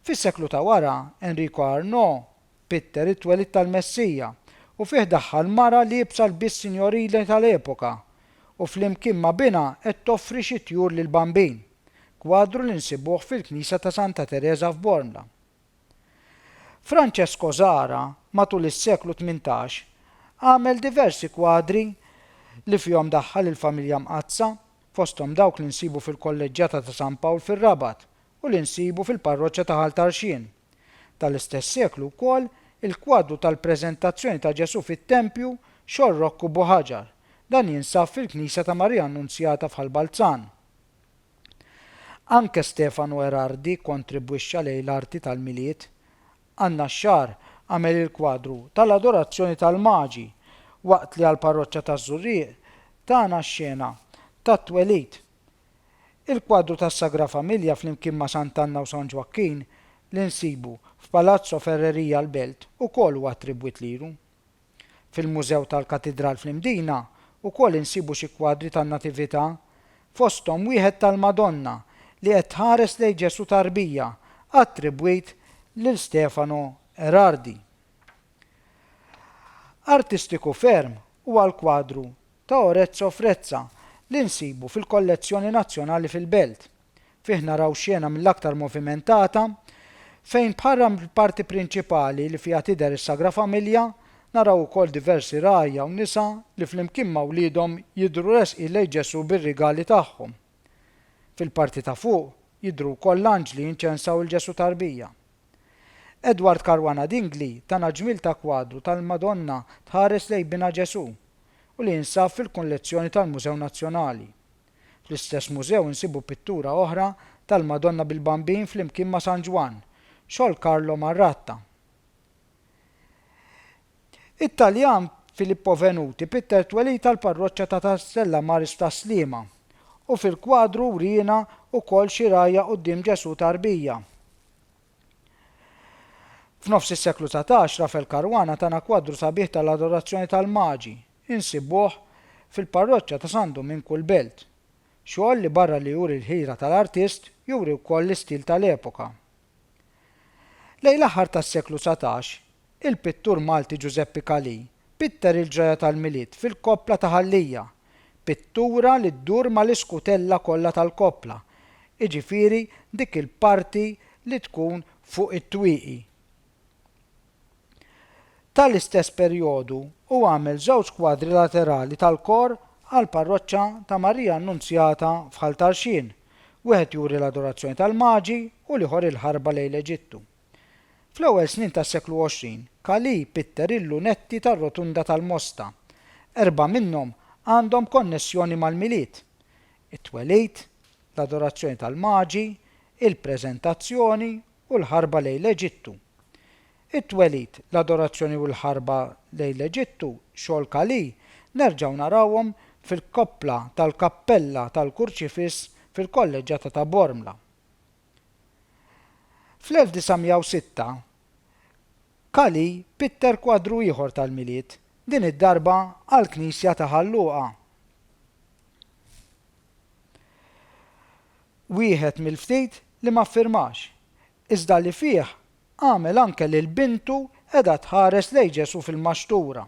Fis-seklu ta' wara, Enrico Arnaud Pitter it-twelid tal-Messija, u fih daħħal mara liebsa lbies sinjorili tal-epoka, u flimkien ma' binha qed toffri xi tjur lill-Bambin, kwadru li nsibuh fil-knisja ta' Santa Tereża f'Bormla. Francesco Zara matul is-seklu tmintax għamel diversi kwadri li fihom daħħal il-Familja Mqaddsa, fosthom dawk li nsibu fil-Kolleġġjata ta' San Pawl fir-Rabat u li nsibu fil-Parroċċa ta' Ħal Tarxien. Tal-istess seklu wkoll il-kwadru tal-Preżentazzjoni ta' Ġesù fit-tempju Xor Rokku Bo Ħaġar, dan jinsab fil-Knisja ta' Marija Annunzjata f'Ħal Balzan. Anke Stefano Erardi kontribwixxa lejn l-arti tal-Milied. An-Naxxar għamel il-kwadru tal-Adorazzjoni tal-Maġi, waqt li għall-Parroċċa taż-Żurrieq tana x-xena tat-Twelid Il-kwadru tas-Sagra Familja flimkien ma' Sant'Anna u San Ġwakkin li nsibu f'Palazzo Ferreria l-Belt ukoll huwa attribwit lilu. Fil-Mużew tal-Katidral fl-Imdina wkoll insibu xi kwadri tan-Natività, fosthom wieħed tal-Madonna li qed tħares lejn Ġesù Tarbija attribwit lil Stefano Erardi. Artistiku ferm huwa l-kwadru ta' Orezzo Frezza li nsibu fil-kollezzjoni nazzjonali fil-Belt. Fih naraw xena mill-aktar movimentata fejn bħarra mill-parti prinċipali li fiha tidher is-Sagra Familja, naraw ukoll diversi ragħajja u nisa li flimkien ma' wliedhom jidhru resqin lejn Ġesù bir-rigali tagħhom. Fil-parti ta' fuq jidhru wkoll l-anġli jinċensaw 'il Ġesù Tarbija. Edward Caruana Dingli tana ġmiel ta' kwadru tal-Madonna tħares lejn binha Ġesù u li jinsab fil-kollezzjoni tal-Mużew Nazzjonali. Fl-istess mużew insibu pittura oħra tal-Madonna bil-Bambin flimkien ma' San Ġwann, xogħol Carlo Marratta. It-Taljan Filippo Venuti pitter t-twelid tal-parroċċa ta' Stella Maris tas-Sliema u fil-kwadru wriena wkoll xi rgħajja quddiem Ġesù Tarbija. F'nofs is-seklu dsatax, Rafael Caruana tana kwadru sabiħ tal-adorazzjoni tal-Maġi. Insibuh fil-parroċċa ta' San Duminku l-Belt. Xogħol li barra li juri l-ħira tal-artist, juri wkoll l-istil tal-epoka. Lejn l-aħħar tas-seklu dsatax, Il-pittur Malti Ġużeppi Calì pitter il-ġrajja tal-Milied fil-koppla ta' Ħal Lija, pittura li ddur mal-iskutella kollha tal-koppla, jiġifieri dik il-parti li tkun fuq it-twieqi. Ta' l-istess perjodu hu għamel żewġ kwadri laterali tal-kor għall-parroċċa ta' Marija Annunzjata f'Ħal Tarxien, wieħed juri l-Adorazzjoni tal-Maġi u l-ieħor il-Ħarba lejn l-Eġittu. Fl-ewwel snin tas-seklu 20, Kali pitter il-lunetti tar-rotunda tal-Mosta. Erbgħa minnhom għandhom konnessjoni mal-Milied, it-Twelid, l-Adorazzjoni tal-Maġi, il-Preżentazzjoni u l-Ħarba lejn l-Eġittu. It-Twelid, l-Adorazzjoni u l-Ħarba lejn l-Eġittu, xogħol Kali, nerġgħu narawhom fil-koppla tal-kappella tal-Kurċifiss fil-Kolleġġata ta' Bormla. Fl-1906, Kali pitter kwadru ieħor tal-Milied, din id-darba għall-knisja ta' Ħal Luqa. Wieħed mill-ftit li ma ffirmax, iżda li fih Għamel anke lil bintu qiegħda tħares lejn Ġesù fil-maxtura.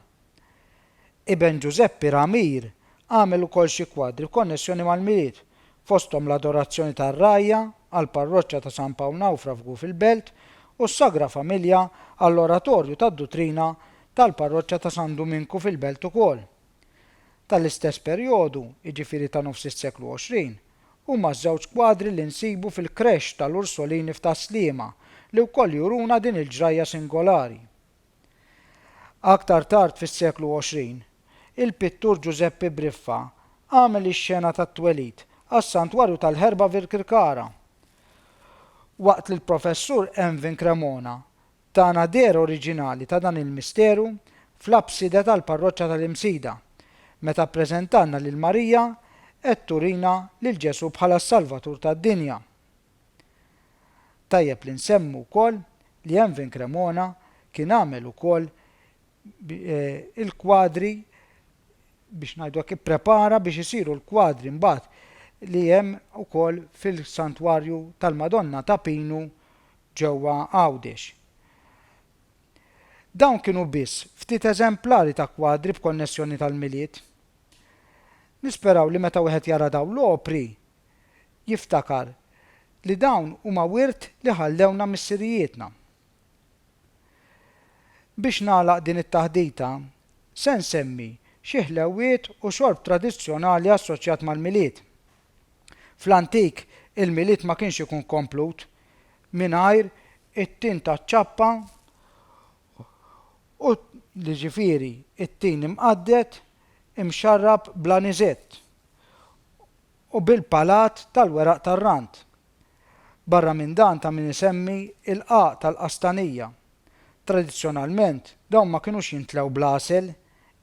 Iben Ġużeppi Ramir għamel ukoll xi kwadri b'konnessjoni mal-Milied, fosthom l-Adorazzjoni tar-Rgħajja għall-Parroċċa ta' San Pawl Nawfra f'Gufil Belt u s-Sagra Familja għall-Oratorju tad-Dutrina tal-Parroċċa ta' San Duminku fil-Belt ukoll. tal-istess perjodu, jiġifieri ta' nofs is-seklu 20, huma ż-żewġ kwadri li nsibu fil-Creche tal-Ursolini f'Tas-Sliema li wkoll juruna din il-ġrajja singolari. Aktar tard fis-seklu 20, il-pittur Ġużeppi Briffa għamel ix-xena tat-twelid għas-Santwarju tal-Ħerba f'Birkirkara, waqt li l-Professur Envin Cremona Tagħna deher oriġinali ta' dan il-misteru fl-abside tal-parroċċa tal-Imsida, meta ppreżentanna lil Marija qed turina lil Ġesù bħala s-Salvatur tad-dinja. Tajjeb li nsemmu wkoll li Envin Cremona kien għamel ukoll il-kwadri biex ngħidu hekk ipprepara biex isiru l-kwadri mbagħad li hemm ukoll fil-Santwarju tal-Madonna ta' Pinu ġewwa Għawdex. Dawn kienu biss ftit eżemplari ta' kwadri b'konnessjoni tal-Milied. Nisperaw li meta wieħed jara dawn l-opri jiftakar li dawn huma wirt li ħallewna missirijietna. Biex nagħlaq din it-taħdita se nsemmi xi ħlewwiet u xorb tradizzjonali assoċjat mal-Milied. Fl-antik, il-Milied ma kienx ikun komplut mingħajr it-tin taċ-ċappa u jiġifieri t-tin imqadded imxarrab bl-aniżett u bil-palat tal-weraq tar-rand. Barra minn dan ta' min isemmi l-qagħaq tal-qastanija. Tradizzjonalment dawn ma kinux jintlew bl-għasel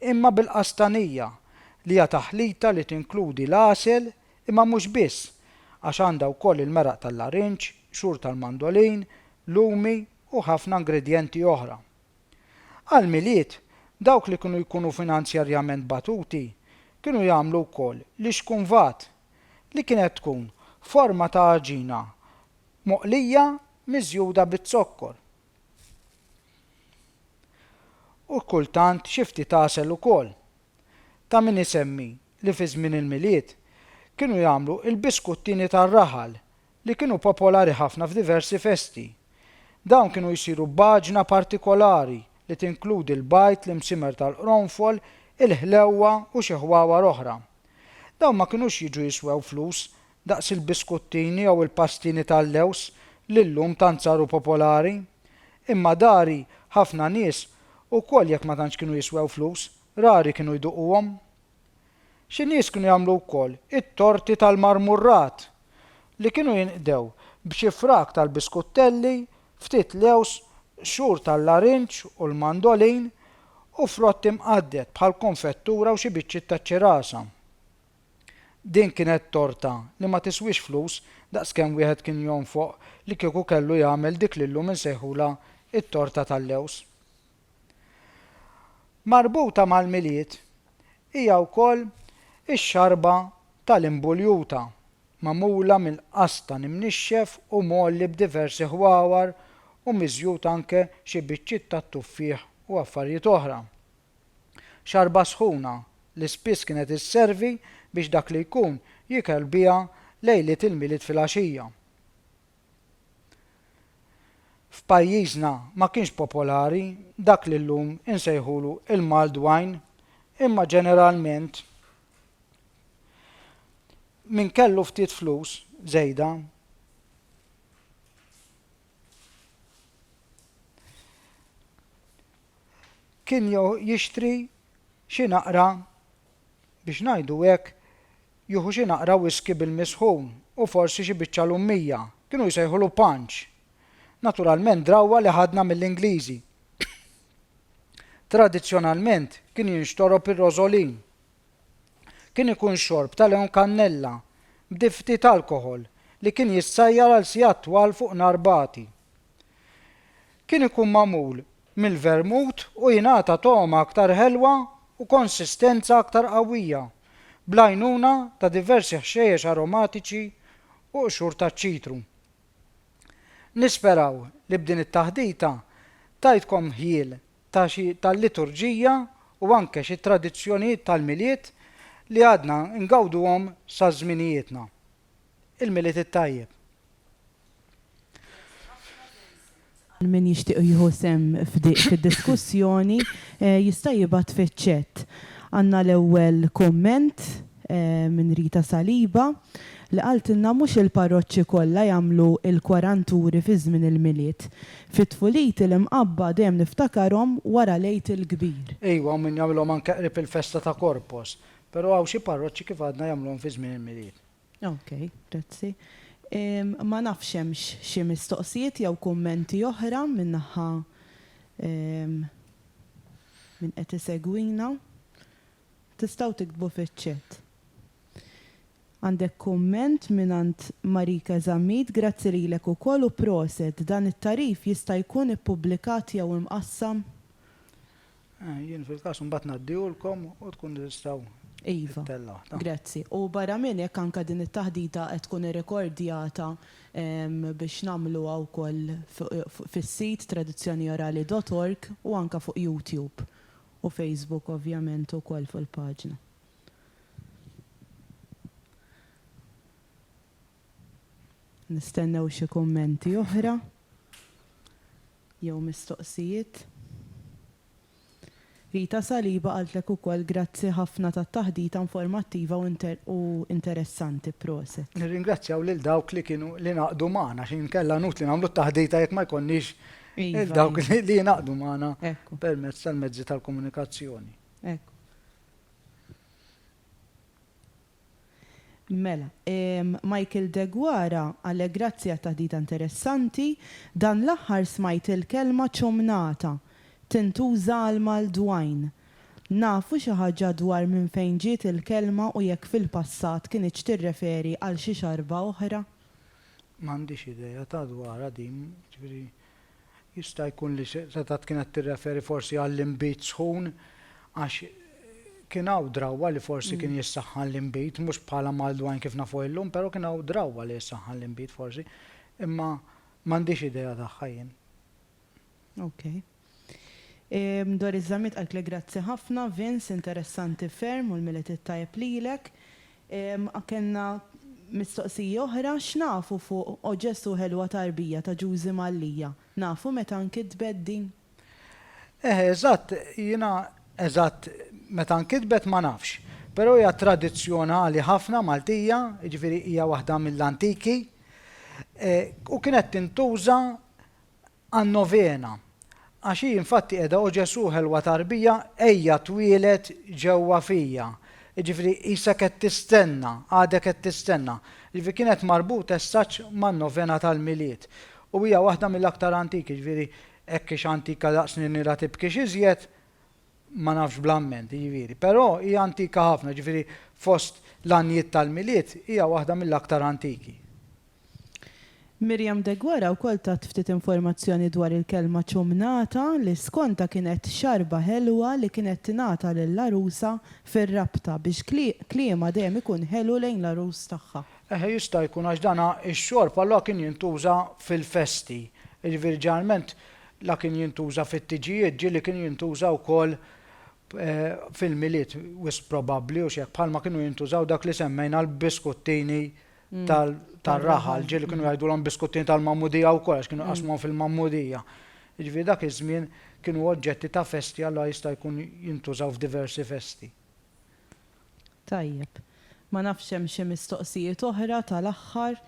imma bil-qastanija, li hija taħlita li tinkludi l-għasel, imma mhux biss, għax għandha wkoll il-meraq tal-larinġ, qxur tal-mandolin, lumi u ħafna ingredjenti oħra. Għall-Milied, dawk li kienu jkunu finanzjarjament batuti kienu jagħmlu wkoll l-ixkunvat, li kienet tkun forma ta' għaġina moqlija miżjuda biz-zokkor. u kultant xi ftit għasel ukoll. Ta' min isemmi li fi żmien il-Milied kienu jagħmlu l-biskuttini tar-raħal li kienu popolari ħafna f'diversi festi. Dawn kienu jsiru b'għaġna partikolari li tinkludi l-bajd, l-imsimer tal-qronfol, il-ħlewwa u xi ħwawar oħra. Dawn ma kinux jiġu jiswew flus daqs il-biskuttini jew il-pastini tal-lewż li llum tant saru popolari. Imma dari ħafna nies, ukoll jekk ma tantx kienu jiswew flus, rari kienu jduquhom. Xi nies kienu jagħmlu wkoll it-torti tal-marmurrat, li kienu jinqdew b'xi frak tal-biskuttelli, ftit lewż, qxur tal-larinġ u l-mandolin, u frott imqadded bħall-konfettura u xi biċċiet taċ-ċirasa. Din kienet torta li ma tiswiex flus daqs kemm wieħed kien jonfoq li kieku kellu jagħmel dik li llum insejħulha t-torta tal-lewż. Marbuta mal-Milied hija wkoll ix-xarba tal-imbuljuta, magħmula mill-qastan imnixxef u mgħolli b'diversi ħwawar u miżjud anke xi biċċiet tat-tuffieħ u affarijiet oħra. Xarba sħuna li spiss kienet isservi biex dak li jkun jikel biha lejliet il-Milied filgħaxija. F'pajjiżna ma kienx popolari dak li llum insejħulu l-mulled wine imma ġeneralment min kellu ftit flus żejda kien jixtri xi naqra, biex ngħidu hekk, jieħu xi naqra whiskey bil-misħun u forsi xi biċċa lummija, kienu jsejħulu punch, naturalment drawwa li ħadna mill-Ingliżi. Tradizzjonalment kien jinxtorob ir-rożolin. Kien ikun xorb ta' lewn kannella, b'dif'ftit alkoħol, li kien jissajjar għal sigħat twal fuq nar bagħti. kien ikun magħmul mill-vermut u jingħata togħma aktar ħelwa u konsistenza aktar qawwija, bl-għajnuna ta' diversi ħxejjex aromatiċi u qxur taċ-ċitru. Nisperaw li b'din it-taħdita tajtkom ħjiel ta' xi tal-liturġija u anke xi tradizzjonijiet tal-Milied li għadna ngawduhom sa żminijietna. il-Milied it-Tajjeb. Għal min jixtieq jieħu sehem f'dik id-diskussjoni jista' jibgħat fiċ-chat. Għandna l-ewwel kumment minn Rita Saliba li qaltilna mhux il-parroċċi kollha jagħmlu l-kwaranturi fi żmien il-Milied. Fi tfuliti l-imqabba dejjem niftakarhom wara l-Għid il-Kbir. Iva, u min jagħmilhom anke qrib il-festa ta' Corpus. Pero hawn xi parroċċi kif għadna jagħmluhom fi żmien il-Milied. Ok, grazzi. Ma nafx hemmx xi mistoqsijiet jew kummenti oħra min-naħa minn qed isegwina. Tistgħu tiktbu fiċ-chat. Għandek kumment mingħand Marika Zammit, grazzi lilek ukoll u proset, dan it-tagħrif jista' jkun ippubblikat jew imqassam? Eh, jien fil-każ mbagħad ngħaddihulkom u tkun tistgħu Iva. Grazzi. U barra minn hekk anke din it-taħdita qed tkun irrekordjata ehm, biex nagħmluha wkoll fis-sit tradizzjoniorali.org u anke fuq YouTube u Facebook ovvjament ukoll fuq il-paġna. Nistennew xi kummenti oħra. jew mistoqsijiet? Rita Saliba qaltlek ukoll grazzi ħafna tat-taħdita informattiva u interessanti. Proset. Nirringrazzjaw lil dawk li kienu li ngħaqdu magħna għax inkella inutli nagħmlu t-taħdita jekk ma jkollniex lil dawk li jingħaqdu magħna permezz tal-mezzi tal-komunikazzjoni. Mela, Michael Deguara, Allegrazzi għat-taħdita interessanti. Dan l-aħħar smajt il-kelma ċomnata tintuża għall-maldwgħin. Nafu xi ħaġa dwar minn fejn ġiet il-kelma u jekk fil-passat kinitx tirreferi għal xi xarba oħra? M'għandix idea ta' dwarha din, jiġifieri Jista' jkun li setgħet kienet tirreferi forsi għall-inbid sħun għax kien hawn drawwa li forsi kien jissaħħan l-inbid, mhux bħala mard wajn kif nafuh illum, però kien hawn drawwa li jissaħħan l-inbid forsi. Imma m'għandix idea tagħha jien. Ok. Dwar iż-żamiet qaltlek grazzi ħafna, Vince, interessanti ferm u l-Milied it-tajjeb lilek. A Kellna mistoqsija oħra, x'nafu fuq O Ġesù ħelwa tarbija ta' Ġużi Mallia? Nafu meta nkitbet din? Eh eżatt, jiena eżatt meta nkitbet ma nafx. Però hija tradizzjonali ħafna Maltija, jiġifieri hija waħda mill-antiki, u kienet tintuża Għan-Novena. Għax hi infatti qiegħda O Ġesù ħelwa tarbija, ejja twieled ġewwa fija. Jiġifieri qisha qed tistenna, għadek qed tistenna. Jiġifieri kienet marbuta as such man-Novena tal-Milied. U hija waħda mill-aktar antiki, jiġifieri hekk hix antika daqs li nilha tibkix iżjed, ma nafx bl-amment, jiġifieri. Però hi antika ħafna, jiġifieri fost l-għanjiet tal-Milied hija waħda mill-aktar antiki. Miriam Deguara wkoll tat ftit informazzjoni dwar il-kelma ċumnata li skontha kienet xarba ħelwa li kienet tingħata lill-għarusa fir-rabta biex kliemha dejjem ikun ħelu lejn l-għarus tagħha. Eħe jista' jkun għax dan ix-xorb allura kien jintuża fil-festi, jiġifieri ġeneralment la kien jintuża fit-tiġijiet ġieli kien jintuża wkoll fil-Milied wisq probabbli u x'hekk bħalma kienu jintużaw dak li semmejna l-biskuttini tar-raħal, ġieli kienu jgħidulhom biskuttini tal-magħmudija wkoll għax kienu jqassmuhom fil-magħmudija. Jiġifieri dak iż-żmien kienu oġġetti ta' festi allura jista' jkun jintużaw f'diversi festi. Tajjeb. Ma nafx hemm xi mistoqsijiet oħra tal-aħħar.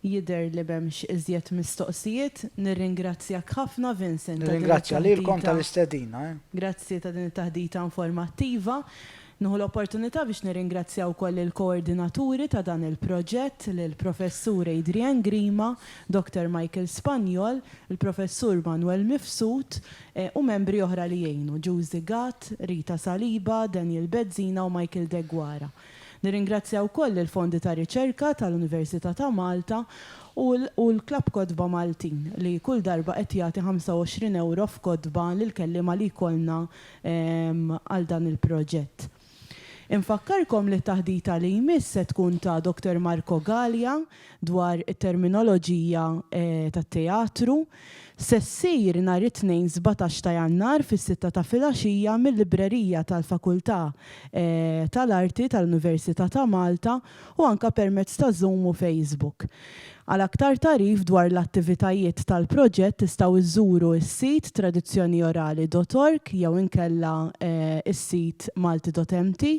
Jidher li m'hemmx iżjed mistoqsijiet. Nirringrazzjak ħafna, Vincent, ta' din it-taħdita. Nirringrazzja lilkom tal-istedina. Grazzi ta' din it-taħdita informattiva. Nieħu l-opportunità biex nirringrazzja wkoll lill-koordinaturi ta' dan il-proġett, lill-Professur Adrian Grima, Dottor Michael Spagnol, il-Professur Manuel Mifsud, u membri oħra li għinu, Giusy Gatt, Rita Saliba, Daniel Bezzina u Michael Deguara. Nirringrazzja wkoll il-Fondi ta' Riċerka tal-Università ta' Malta u u l-Klabb Kotba Maltin li kull darba qed jagħti 25 ewro f'kotba lill-kelliema li jkollna għal dan il-proġett. Infakkarkom li t-taħdita li jmiss se tkun ta' Doctor Marco Galea, dwar it-terminoloġija tat-teatru, se ssir nhar it-Tnejn sbatax ta' Jannar fis-sitta ta' filgħaxija mil-Librerija tal-Fakultà tal-Arti tal-Università ta' Malta u anke permezz ta' Zoom u Facebook. Għal aktar tagħrif dwar l-attivitajiet tal-proġett tistgħu żżuru s-sit tradizzjoniorali dot org jew inkella s-sit malti dot mt.